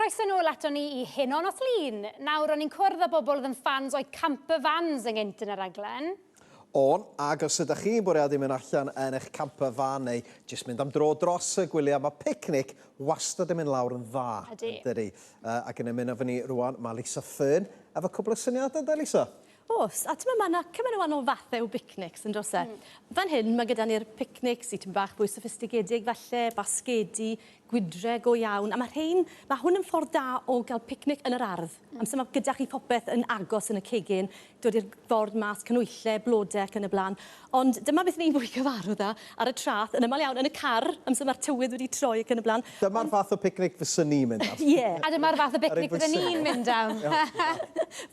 Croeso nôl ato ni i hyn o'n os lun. Nawr, o'n i'n cwrdd â bobl oedd yn ffans o'i camper vans yn gynt yn y raglen. On, ag os ydych chi'n bwriadu mynd allan yn eich camper van neu jyst mynd am dro dros y gwyliau, mae picnic wastad yn mynd lawr yn dda. Ydy. Ydy. Uh, ac yn ymuno fy ni rwan, mae Lisa Fearn efo cwbl o syniadau, da Lisa? Oes, a t'mo' ma' 'na cymaint o wanol fathe o bicnics yndo's e? Hmm. Fan hyn ma' gyda ni'r picnics sy tym' bach fwy soffistigedig falle, basgedi, gwydre go iawn, a ma' rhein, ma' hwn yn ffordd da o ga'l picnic yn yr ardd. Hmm. Amser ma' gyda chi popeth yn agos yn y cegin, dod i'r ford mas, canwylle, blode ac yn y bla'n. Ond dyma beth ni'n fwy cyfarwdd â ar y traeth, yn aml iawn yn y car, amser mae'r tywydd wedi troi ac yn y blaen. Dyma'r fath o picnic fyswn ni'n mynd am. Ie. A dyma'r fath o bicnic fydden ni'n mynd am.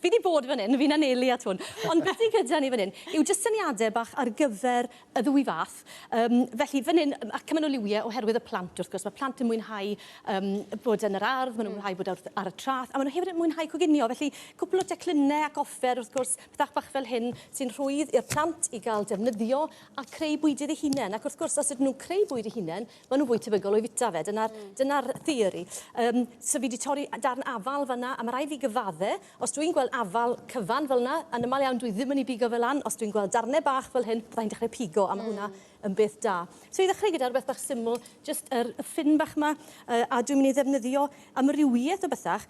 Fi 'di bod fan hyn, fi'n anelu at hwn. Ond beth sy gyda ni fan hyn yw jyst syniadau bach ar gyfer y ddwy fath. Yym, felly fan hyn, ac cymaint o liwiau oherwydd y plant wrth gwrs. Mae plant yn mwynhau yym bod yn yr ardd, maen nhw'n mwynhau bod ar y traeth, a maen nhw hefyd yn mwynhau coginio. Felly, cwpl o declynau ac offer wrth gwrs. Pethau bach fel hyn sy'n rhwydd i'r plant i gael defnyddio a creu bwydydd eu hunain. Ac wrth gwrs, os ydyn nhw'n creu bwyd eu hunain, maen nhw'n fwy tebygol o'i fwyta fe. Dyna'r mm. dyna theori. Um, so fi wedi torri darn afal fanna, a mae rhaid fi gyfadde, os dwi'n gweld afal cyfan fel yna, yn ymal iawn dwi ddim yn ei bigo fel lan, os dwi'n gweld darnau bach fel hyn, byddai'n dechrau pigo, a mae mm. hwnna yn beth da. So i ddechrau gyda'r beth bach syml, just yr, y ffyn bach yma, uh, a dwi'n mynd i ddefnyddio amrywiaeth o bethach,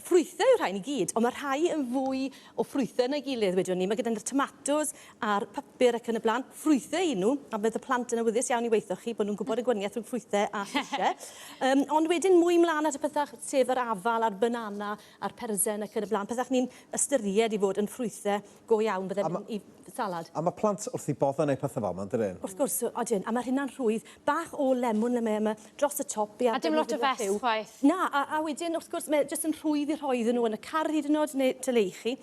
ffrwythau yw'r rhain i gyd, ond mae rhai yn fwy o ffrwythau na'i gilydd, wedwn ni. Mae gyda ni'r tomatos a'r papur ac yn y blaen. Ffrwythau y'n nhw, a bydd y plant yn awyddus iawn i weithio chi bod nhw'n gwybod y gwaniaeth rhwng ffrwythau a llysiau. um, ond wedyn mwy mlaen at y pethau sef yr afal a'r banana a'r persen ac yn y blaen, pethau ni'n ystyried i fod yn ffrwythau Go iawn, byddem A ma- yn i salad. A ma' plant wrth eu bodd yn neud pethe fel 'ma, yndydyn? Wrth gwrs, odyn, a ma' rhina'n rhwydd. Bach o lemwn le mae yma, dros y top, be' A dim lot o fess chwaith. Na, a a wedyn wrth gwrs mae jyst yn rhwydd i rhoi iddyn nhw yn y car hyd yn o'd neu tŷ le i chi.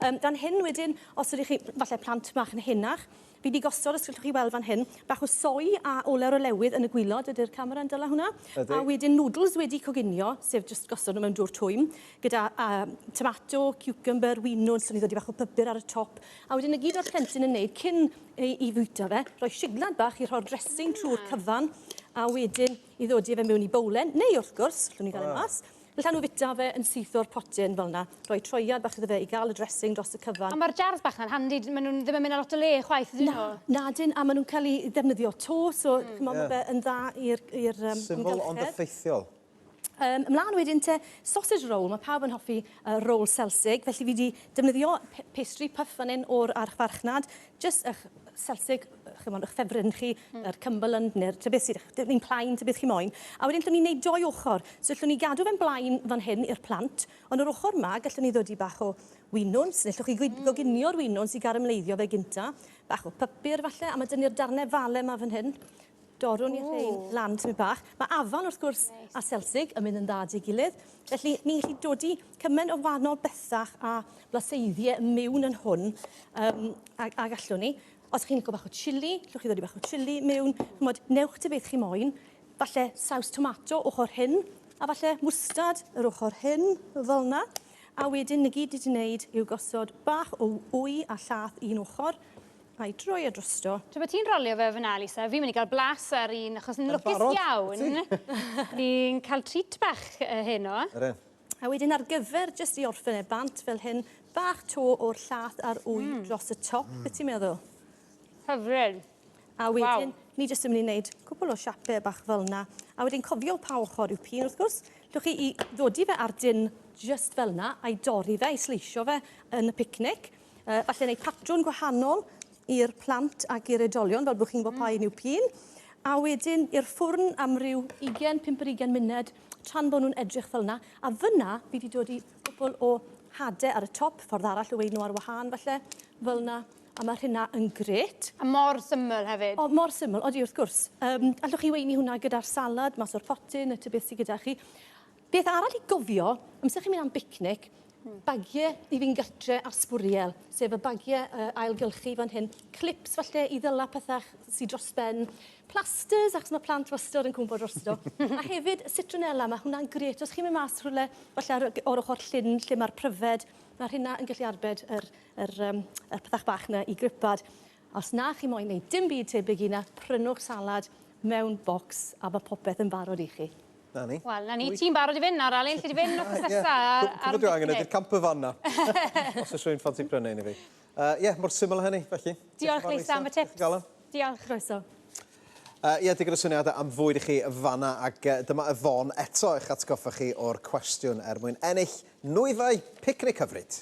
Yym, fan hyn wedyn, os ydych chi, falle plant bach yn henach, Fi 'di gosod, os gallwch chi weld fan hyn, bach o soy a olew olewydd yn y gwilod, ydy'r camera yn dala hwnna? Ydy. A wedyn noodles wedi coginio, sef jyst gosod nhw mewn dwr twym, gyda yym tomato, ciwcymbyr, winwns, so ni'n dodi bach o pybyr ar y top, a wedyn 'na gyd o'r plentyn yn neud cyn ei i fwyta fe, rhoi siglad bach i rhoi'r dressing trwy'r cyfan, a wedyn i ddodi fe mewn i bowlen, neu wrth gwrs, gallwn ni ddal e mas, Allan nhw fita fe yn syth o'r potyn fel 'na. Rhoi troiad bach iddo fe i gael y dressing dros y cyfan. Ond mae'r jars bach 'na'n handi, maen nhw'n ddim yn mynd ar lot o le chwaith ydyn nhw? Na, nadyn, a maen nhw'n cael eu defnyddio 'to, so chimod mae fe yn dda i'r amgylchedd. Syml ond effeithiol. Ymlaen wedyn te, sausage roll, mae pawb yn hoffi roll selsig, felly fi 'di defnyddio pastry puff fan hyn o'r archfarchnad, jyst ych selsig, chimod, ych ffefryn chi, mm. yr Cumberland neu'r tybeth beth sydd dim un plaen, tybeth chi moyn. A wedyn llwn ni'n neud doi ochr. So llwn ni gadw fe'n blaen fan hyn i'r plant, ond yr ochr ma gallwn ni ddod i bach o winwns, neu llwch chi mm. goginio'r winwns i garamleiddio fe gynta, bach o pypur falle, a mae dynnu'r darnau fale yma fan hyn, Dorrwn ni rhein lan tymed bach. Mae afon wrth gwrs a selsig yn mynd yn dda dy gilydd. Felly ni'n gallu dodi cymaint o wahanol bethach a blaseiddiau yn mewn yn hwn um, a, a gallwn ni. Os chi'n licio bach o chili, llwch chi ddodi bach o chili mewn. Chymod, newch ti beth chi moyn. Falle saws tomato ochr hyn, a falle mwstad yr ochr hyn, fel yna. A wedyn, y gyd i ti wneud yw gosod bach o wy a llath un ochr, Ai droi o drosto. Tra bod ti'n rolio fe fyna, Lisa, fi'n mynd i gael blas ar un, achos ni'n lwcus iawn. Ni'n cael treat bach uh, heno. Ydyn. A wedyn ar gyfer jyst i orffen e bant fel hyn, bach to o'r llath a'r wy mm. dros y top, mm. beth ti'n meddwl? Hyfryd. A wedyn, wow. ni jyst yn mynd i wneud cwpl o siapau bach fel yna. A wedyn cofio pa ochr yw pin, wrth gwrs. Dwch chi i ddodi fe ar dyn jyst fel yna, a'i dorri fe, i sleisio fe yn y picnic. Uh, falle wneud patrwn gwahanol i'r plant ac i'r oedolion, fel bod chi'n gwybod pa un yw pun. A wedyn i'r ffwrn am ryw 20, 5 ar 20 munud, tra'n bod nhw'n edrych fel yna. A fyna, fi wedi dod i gwbl o hade ar y top, ffordd arall o weid nhw ar wahân, falle, fel yna. A mae hynna yn gret. A mor syml hefyd. O, mor syml, odi wrth gwrs. Um, allwch chi weini hwnna gyda'r salad, mas o'r potyn, y tybeth sydd gyda chi. Beth arall i gofio, amser chi'n mynd am bicnic, bagiau i fynd gartre ar sbwriel, sef y bagiau uh, ailgylchu fan hyn, clips falle i ddyla pethau sy'n dros ben, plasters, achos mae plant wastad yn cwmpo drosto, a hefyd citronella, mae hwnna'n gret. Os chi'n mynd mas rhywle, falle ar, o'r ochr llyn lle mae'r pryfed, mae hynna yn gallu arbed yr, yr, um, y pethau bach yna i gripad. Os na chi moyn neud dim byd tebyg i na, prynwch salad mewn bocs a ma' popeth yn barod i chi. Na ni. Wel, na ni. Ti'n barod i fyn nawr Alun, alli di fyn wthnos nesa ar ar Cwpwl o dwi angen ydi'r camper van na. Os o's rhywun yn ffansi prynu un i fi. Yy ie, mor syml a hynny, felly. Diolch Lisa am y tips. Diolch. Croeso. Yy ie, digon o syniadau am fwyd i chi fanna ac yy dyma Yvonne eto i'ch atgoffa chi o'r cwestiwn er mwyn ennill nwyddau picnic hyfryd.